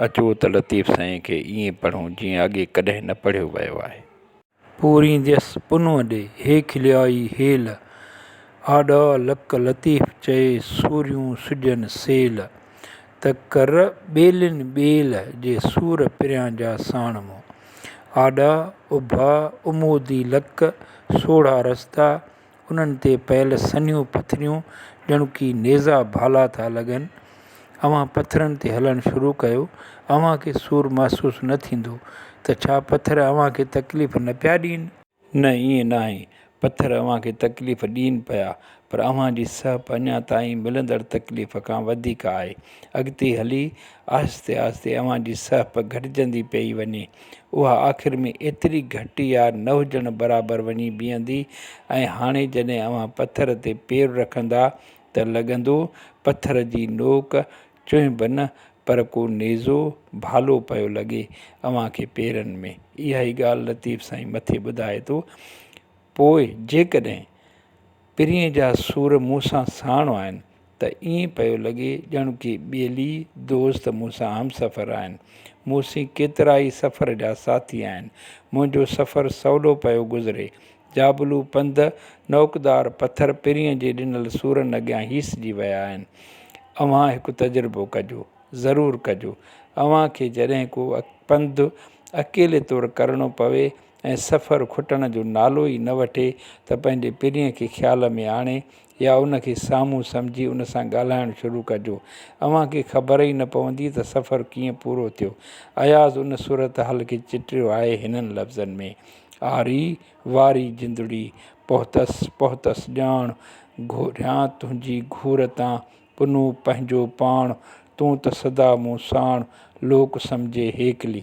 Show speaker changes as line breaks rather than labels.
اچو ته لطيف سائين کي ائين پڙهون جيئن اڳي ڪڏهن نه پڙهيو ويو آهي. پورينديس پنهون ڏي، هي کليائي هيل. آڏا لڪ لطيف چئي، سوريون سجن سيل. ته ڪر ٻيلين ٻيل جي سور پريان جا ساڻ مون. آڏا اڀا امودي لڪ سوڙها رستا، انهن تي پيل سنهيون پٿريون ڄڻ ڪي نيزا ڀالا ٿا لڳن. اوهان پٿرن تي هلڻ شروع ڪيو، اوهان کي سور محسوس نه ٿيندو ته ڇا پٿر اوهان کي تڪليف نه پيا ڏين؟ نه ائين ناهي، پٿر اوهان کي تڪليف ڏين پيا، پر اوهان جي سهپ اڃا تائين ملندڙ تڪليف کان وڌيڪ آهي. اڳتي هلي آهستي آهستي اوهان جي سهپ گهٽجندي پئي وڃي. اها آخر ۾ ايتري گهٽ يا نه هجڻ برابر وڃي بيهندي ۽ هاڻي جڏهن اوهان پٿر تي پير رکندا ته لڳندو پٿر جي نوڪ چونء به نه، پر ڪو نيزو، ڀالو، پيو لڳي اوهان کي پيرن ۾. اها ئي ڳالهه لطيف سائين مٿي ٻڌائي ٿو. پوء جيڪڏهن پرينء جا سور مون سان ساڻ آهن ته ائين پيو لڳي ڄڻ ڪي ٻيلي، دوست، مون سان همسفر آهن. مون سين ڪيترائي سفر جا ساٿي آهن. منهنجو سفر سولو پيو گذري. جابلو پنڌ، نوڪدار پٿر پرينء جي ڏنل سورن اڳيان هيسجي ويا آهن. اوهان هڪ تجربو ڪجو. ضرور ڪجو. اوهان کي جڏهن ڪو پنڌ اڪيلي طور ڪرڻو پوي ۽ سفر کٽڻ جو نالو ئي نه وٺي ته پنهنجي پرينء کي خيال ۾ آڻي يا ان کي سامهون سمجهي ان سان ڳالهائڻ شروع ڪجو. اوهان کي خبر ئي نه پوندي ته سفر ڪيئن پورو ٿيو. اياز ان صورتحال کي چٽيو آهي هنن لفظن ۾. آري واري جندڙي، پهتس پهتس ڄاڻ، گهوريان تنهنجي گهور تان، پنو پنهنجو پاڻ، تون ته سدا مون ساڻ، لوڪ سمجهي هيڪلي.